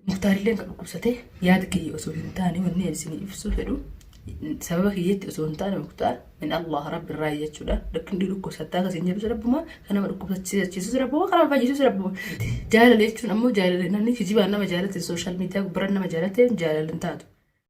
Muktaarilleen ka dhukkubsate yaada kiyya osoo hin taane wanni ani isinii ibsuu fedhu sababa kiyyatti osoo hin taane muktaar min Allah rabbi irraa jechuudha rakkin dhii dhukkubsattaa akka isin jedhus rabbuma kan nama dhukkubsachiisus rabbuma kan nama fayyisus rabbuma jaalala jechuun ammoo jaalala namni kijibaan nama jaalatte sooshaal miidiyaa gubbaran nama jaalatte jaalala hin taatu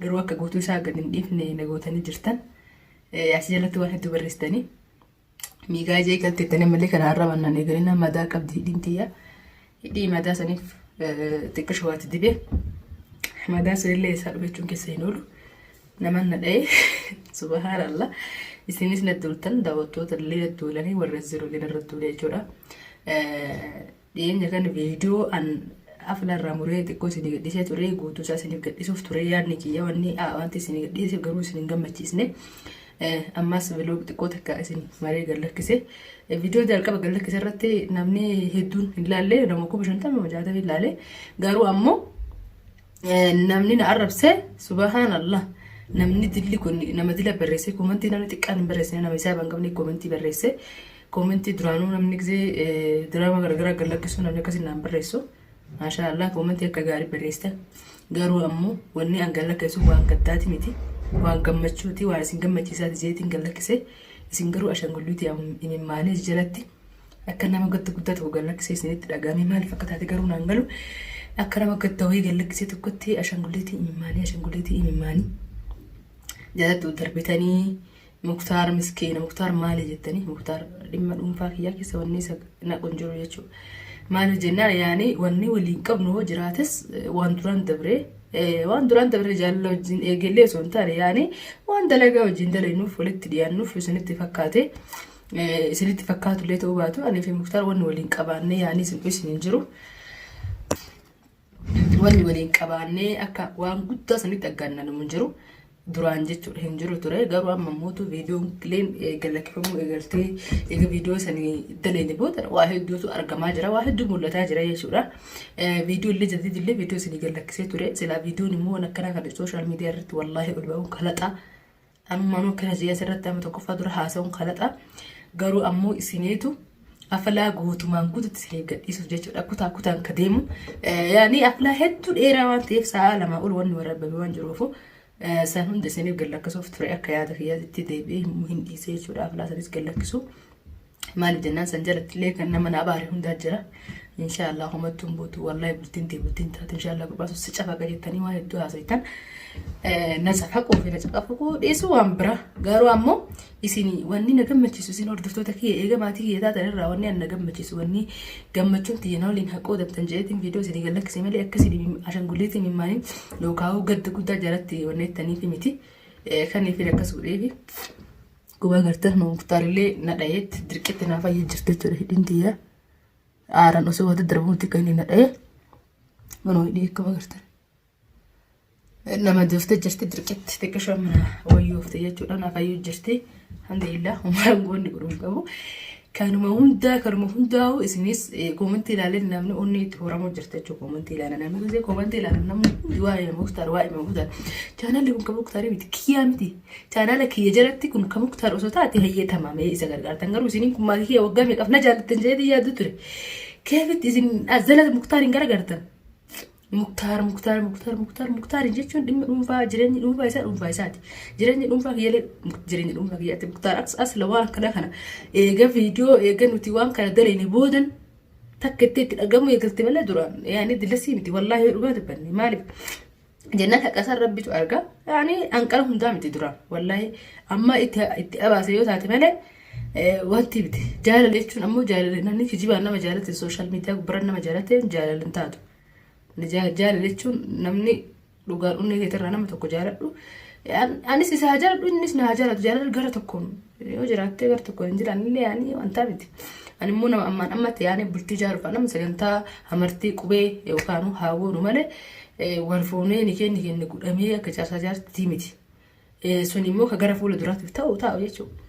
garuu akka guutuu isaa gad hin dhiifne na gootanii jirtan. As jalatti waan hedduu barreessitanii. Miigaa ijee galti jettanii malee kana har'a mannaan eegalinaa madaa qabdi hidhiin tiyya. Hidhii madaa saniif xiqqoo shawaatti dibee. Madaa sanillee isaa dhufe jechuun keessa hin oolu. Naman na dha'ee subahaara Allah. Isinis na duultan daawwattoota illee na duulanii warra ziroo gana irra duulee jechuudha. Dhiyeenya kana viidiyoo an afla irraa muree xiqqoo isinii gadhiisee ture guutuu isaa isiniif gadhiisuuf ture yaadni kiyya wanni wanti isinii gadhiiseef garuu isin hin gammachiisne. Ammas viloog xiqqoo takka isin maree gad lakkise. Viidiyoo jalqaba gad lakkise irratti namni hedduun hin laalle nama kuma shantama nama jaatama hin laalle garuu ammoo namni na arrabse subhaanallah namni dilli kun nama dila barreesse koomantii namni xiqqaan hin barreessine nama isaa hin qabne koomantii barreesse. Koomentii duraanuu namni gisee diraama garagaraa gad lakkisuu namni akkasii naan barreessu. Maashaa Allah koomentii akka gaarii barreessita. Garuu ammoo wanni an gad lakkisuu waan gaddaati miti. Waan gammachuuti waan isin gammachiisaati jeetiin gad lakkise. Isin garuu ashangulliitii imimmaanii jalatti akka nama gadda guddaa tokko gad lakkisee isinitti dhaga'amee maaliif akka taate garuu naan galu. Akka nama gadda wayii gad lakkisee tokkotti ashangulliitii imimmaanii ashangulliitii imimmaanii. Jaalattuu darbitanii Muktar miskiina muktar maali jettanii muktar dhimma dhuunfaa kiyyaa keessa wanni isa naqu hin jiru jechuudha. Maaliif jennaan yaani wanni waliin qabnu hoo jiraates eh, waan duraan dabree eh, waan duraan dabree jaalala wajjin eegallee osoo hin taane yaani waan dalagaa wajjin dalagnuuf walitti dhiyaannuuf isinitti fakkaate eh, isinitti fakkaatullee ta'uu baatu anii fi muktar wanni waliin qabaannee yaani isin isin hin jiru. Nuti wanni waliin qabaannee akka waan guddaa sanitti aggaannanamu hin jiru. Duraan jechuudha hin jiru ture. Garuu amma mootu viidiyoon kileen galakkifamuu eegaltee eega viidiyoo sanii daleene booda waa hedduutu argamaa jira. Waa hedduu mul'ataa jira jechuudha. Viidiyoo illee jadid illee viidiyoo sanii galakkisee ture. Silaa viidiyoon immoo waan akkanaa kana sooshaal miidiyaa irratti wallaahi ol ba'uun kalaxaa. Amma amma pirazii asirratti amma tokkoffaa dura haasa'uun kalaxa. Garuu ammoo isiniitu afalaa guutumaan guututti isiniif gadhiisuuf jechuudha. Kutaa kutaan ka deemu. Yaani afalaa hedduu dheeraa waan ta'eef sa'a lamaa ol wanni waraabame waan jiruufu san hunda isiniif gallakkisuuf ture akka yaada kiyyaatti deebi'ee hin dhiisee jechuudha. Afalaa sanis gallakkisuu. maali jennaan san jalatti illee kan nama na abaare hundaa jira inshaallah homattuu hin buutu wallahi bultiin tee bultiin taatu inshaallah gubaasu si cafaqa jettanii waan hedduu haasoftan na cafaquu fi na cafaquu dhiisuu waan bira garuu ammoo isin wanni na gammachiisu isin hordoftoota kiyya eega maatii kiyya taatan irraa wanni an na gammachiisu wanni gammachuun tiyya na waliin haqoo dabtan jedheetiin viidiyoo isin gallakkisee malee akka isin ashangulliitiin himmaanii yookaan gadda guddaa jalatti wanneettaniif miti kan ifin akkas godheefi Dhugaa agartee nu muktaarillee na dhayeetti dirqitti naa fayyee jirti jechuudha hidhiin tiyya. Aaran osoo wata darbuutti kan inni na dhaye. Manoo hidhii akkam agartan. Nama dooftee jirti dirqitti xiqqishaa mana wayyoofte jechuudha naa fayyuu jirti. Alhamdulillah ummaan goonni godhuun qabu. Kanuma hundaa kanuma hundaa'u isinis koomantii ilaaleen namni onni itti horamuu jirta jechuudha koomantii ilaalan namni gisee koomantii ilaalan namni hundi waa'ee muktaar waa'ee muktaar chaanaalli kun kan muktaarii miti kiyyaa miti chaanaala kiyya jalatti kun kan muktaar osoo taate hayyee tamaamee isa gargaartan garuu isiniin kun maatii kiyya waggaa meeqaf na jaallattan jedhee yaaddu ture keefitti isin azala muktaariin gargaartan Muktaar muktaar muktaar muktaar muktaar jechuun dhimma dhuunfaa jireenyi dhuunfaa isaa dhuunfaa isaati. Jireenyi dhuunfaa kiyyalee jireenyi dhuunfaa kiyyaatti muktaar as asla waan akkana kana eega viidiyoo eega nuti waan kana daleeni boodan takka itti itti dhagamu eegalte malee duraan yaani dilasii miti wallaahi yoo dhugaa dubbanne maaliif jennaan haqasaa rabbitu argaa yaani hanqara hundaa miti duraan wallaahi amma itti itti abaase yoo taate malee Wanti miti jaalala jechuun ammoo jaalala namni kijibaan nama jaalate sooshaal miidiyaa gubbarra nama jaalate jaalala hin taatu. Jaalala jechuun namni dhugaan onnee keetirraa nama tokko jaaladhu. Anis isa haa jaaladhu innis na haa jaalatu jaalala gara tokkoon yoo jiraattee gara tokkoon hin jiraannillee yaanii wantaa miti. Ani immoo nama ammaan ammatti yaanee bultii ijaaruuf nama sagantaa amartii qubee yookaan haawwoonu malee wal fuunee ni kenni kenni godhamee akka jaarsaa jaartii miti. Sun immoo ka gara fuula duraatiif ta'u taa'u jechuudha.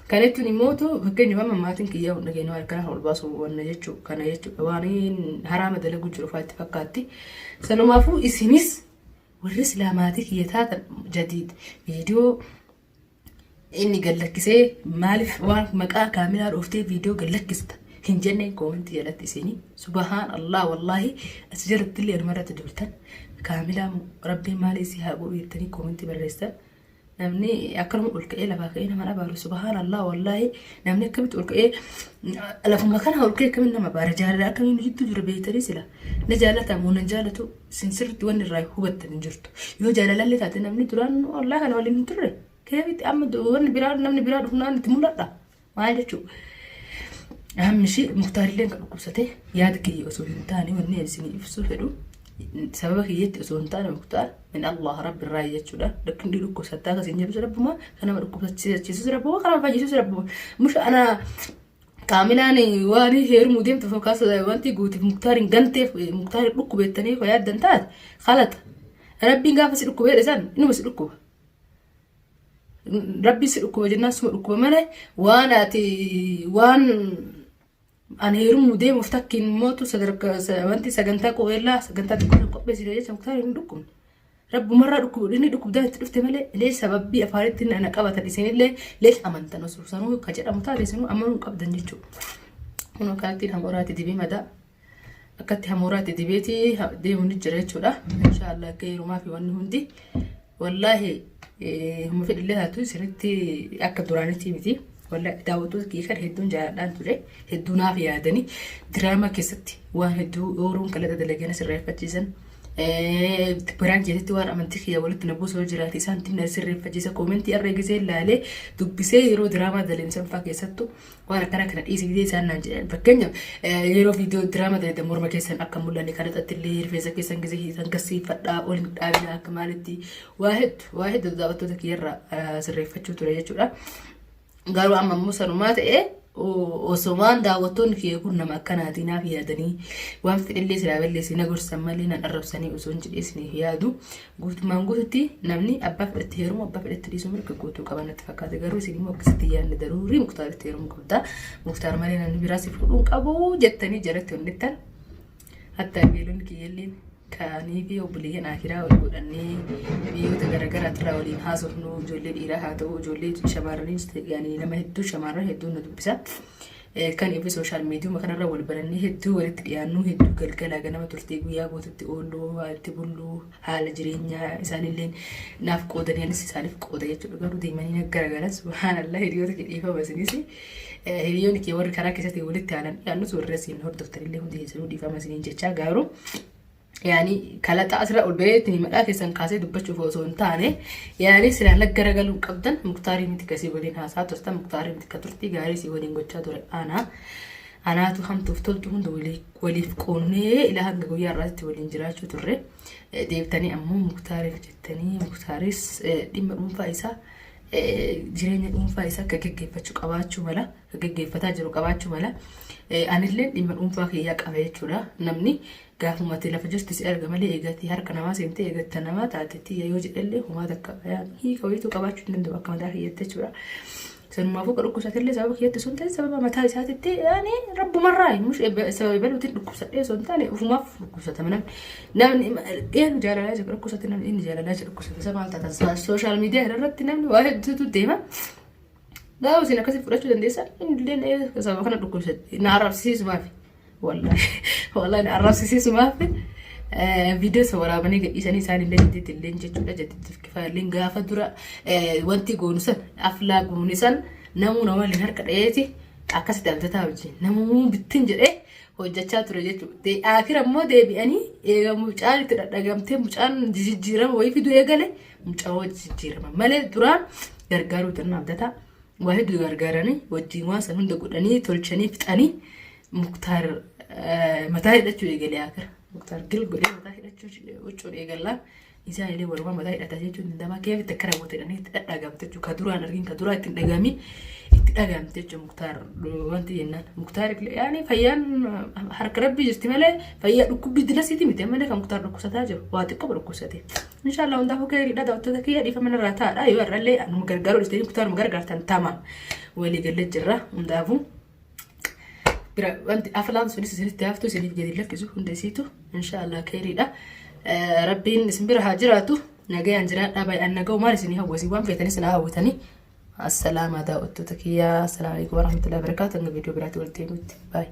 Kana jechuun immoo fakkeenyaaf amma maatiin kiyyaa hunda keenya harka lafa ol baasuu wanna jechuu kana jechuudha. Waan haraama dalaguu jiru faatti fakkaatti. Sanumaafuu isinis warri silaa maatii kiyya taatan jadiid viidiyoo inni gallakkisee maaliif waan maqaa kaamilaa dhooftee viidiyoo gallakkista hin jenneen koomantii jalatti isinii. Subahaan Allah wallaahi asi jalatti illee anuma irratti duultan. Kaamilaa moo rabbiin maalii si haa godhu jettanii koomentii barreessan. Namni akkanuma ol ka'ee lafaa ka'ee nama abaaru subhaan Allah wallaahi namni akkamitti ol ka'ee lafuma kana ol ka'ee akkamitti nama abaara jaalala akkamiin jidduu jiru beektanii sila na jaalataa moo nan jaalatu sin sirriitti wanni irraa hubattan hin jirtu yoo jaalalallee taate namni duraan Allah kana waliin hin turre keefitti amma wanni biraa namni biraa dhufnaan itti mul'adha. Maal jechuudha? Dhaabni ishee muktaarillee kan dhukkubsate yaada kiyya osoo hin taane wanni ani isinii ibsuu fedhu sababa kiyyatti osoo hin taane muktaar min Allah rabbi irraa jechuudha. Rakkin dhii dhukkubsattaa akka isin jedhus rabbuma kan nama dhukkubsachiisus rabbuma kan nama fayyisus rabbuma. Musha ana kaamilaan waan heerumuu deemtu fakkaas wanti guutiif muktaar hin ganteef muktaar dhukkubeettanii yaaddan taate kalata. Rabbiin gaafa si dhukkubee dhisan inuma si dhukkuba. Rabbi si dhukkuba jennaan suma dhukkuba malee waan ati waan ani heerumuu deemuuf takkiin mootu sadarkaa wanti sagantaa qubeellaa sagantaa tokko hin qopheessine jecha muktaar hin dhukkubne. Rabbumarraa dhukkubu inni dhukkubdaan itti dhufte malee illee sababbii afaanitti na qabatan isinillee illee amantan osoo sanuu ka jedhamu taate isinuu amanuu hin qabdan jechuudha. Kunoo kaartiin hamoraati dibii madaa. akkatti hamuuraa itti dibeeti deemu ni jira jechuudha insha Allah akka heerumaa fi wanni hundi wallaahi humna fedhillee taatu sirriitti akka duraanitti miti wallaahi daawwattoota kiyya kan hedduun jaaladhaan ture hedduu naaf yaadanii diraamaa keessatti waan hedduu ooruun qalata dalagana sirreeffachiisan biraan jeetetti waan amantii kiyya walitti na buusoo jiraate isaan tinna sirreeffachiisa koomentii irra gisee ilaalee dubbisee yeroo diraamaa dalemsan fa'aa keessattu waan akkana kana dhiisi bidee isaan naan jedhan fakkeenyaaf yeroo viidiyoo diraama dalagdan morma keessan akka mul'anne kan irratti illee rifeensa keessan gisee hiitan gassiifadhaa ol hin dhaabina akka maalitti waa heddu waa heddu daawwattoota kiyyarra sirreeffachuu ture jechuudha. Garuu amma immoo sanumaa ta'ee osoo waan daawwattoonni kiyya kun nama akkanaatii naaf yaadanii waan fedhillee silaa balleessee na gorsan malee nan arrabsanii osoo hin jedhee isiniif yaadu Guutummaan guututti namni abbaa fedhetti heerumu abbaa fedhetti dhiisuu mirga guutuu qaba natti fakkaate garuu isin immoo akkasitti yaadne daruurii muktaaritti heerumu qabda muktaar malee namni biraa si fuudhuun qabu jettanii jaratti onnittan hatta beelonni kiyyalliin kaanii fi obboleeyyan akiraa wal godhannee biyyoota garaagaraa irraa waliin haasofnu ijoollee dhiiraa haa ta'u ijoollee shamarraniis ta'anii nama hedduu shamarran hedduun na dubbisa Kan evi sooshaal miidiyuma kanarra wal barannee hedduu walitti dhiyaannuu hedduu galgala ganama turtee guyyaa guututti ooluu walitti bulluu haala jireenyaa isaanillee naaf qoodanii anis isaaniif qooda jechuudha garuu deemanii na garagalan subhaanallah hiriyoota kee dhiifama isinis hiriyoonni kee warri karaa keessatti walitti aanan dhiyaannus warri asiin hordoftanillee hundi keessanuu dhiifama isiniin jechaa garuu yaani kalaxaa asirraa ol ba'ee ittiin madhaa keessan kaasee dubbachuuf osoo hin taane yaani silaa nag garagaluun qabdan muktaarii miti kasii waliin haasaa turtan muktaarii miti ka turtii gaarii sii waliin gochaa ture aanaa anaatu hamtuuf toltu hunda walii- waliif qoonnee ilaa hanga guyyaa irraatti waliin jiraachuu turre Eh, deebitanii ammoo muktaariif jettanii muktaaris eh, dhimma dhuunfaa isaa eh, jireenya dhuunfaa isaa akka geggeeffachuu qabaachuu mala akka geggeeffataa jiru qabaachuu mala Eh, anillee dhimma dhuunfaa kiyyaa qaba jechuudha namni Gaafuma ati lafa jirtu si arga malee eega ati harka namaa seentee eega ati namaa taate tiyya yoo jedhellee homaa takka hiika wayiitu qabaachuu hin danda'u akka mataa kiyyatti jechuudha. Sanumaafuu ka dhukkubsatillee sababa kiyyatti osoo hin ta'in sababa mataa isaatitti yaani rabbumarraa mush sababa ebaluutiin dhukkubsadhee osoo hin taane ofumaaf dhukkubsatama namni namni eenu jaalalaa jira dhukkubsate namni inni jaalalaa jira dhukkubsate isa maal taatan sooshaal miidiyaa irratti namni waa hedduutu deema. Gaafa isin akkasii fudhachuu dandeessan illee sababa kana dhukkubsatti. Na arrabsiisu maafi. Wallaahi wallaahi na arrabsiisu maafi. Viidiyoo isa waraabanii gadhiisanii isaan illee jaddiitti illee jechuudha jaddiitti kifaaleen gaafa dura wanti goonu san aflaa goone san namuu nama waliin harka dhayeeti akkasitti abdataa wajjin namuu bittin jedhee hojjechaa ture jechuudha. Akira immoo deebi'anii eegamu mucaan itti dhadhagamtee mucaan jijjiirama wayii fiduu eegale. Mucawoo jijjiirama malee duraa gargaaruu tanna abdata waa hedduu gargaaranii wajjin waan san hunda godhanii tolchanii fixanii muktaar mataa hidhachuu eegalee akira muktaar gil godhee mataa hidhachuu huccuu eegalaa isaa illee walumaa mataa hidhata jechuun dandamaa keef takka raawwate jedhanii itti dhadhaagamte jechuudha ka duraan argin ka duraa itti hin dhagaamiin itti dhagaamte jechuudha muktaar wanti jennaan muktaar illee yaani fayyaan harka rabbii jirti malee fayyaa dhukkubbii dilasiti miti ammallee kan muktaar dhukkubsataa jiru waa xiqqoo dhukkubsate Inshallah hundaafuu keeriidha daawwattoota kiyya dhiifama narraa taa'adha yoo har'allee anuma gargaaruu dhiistanii kutaa anuma gargaartan tama walii galee jirra hundaafuu bira wanti aflaan sunis isinitti haftu isiniif gadi lakkisu hunda isiitu inshallah keeriidha rabbiin isin bira haa jiraatu nagayaan jiraadhaa baay'aan naga'u maal isinii hawwasi waan feetanii sinaa hawwatanii assalaamaa daawwattoota kiyya assalaamu alaikum warahmatullahi wabarakaatu hanga viidiyoo biraatti walitti himutti baay'ee.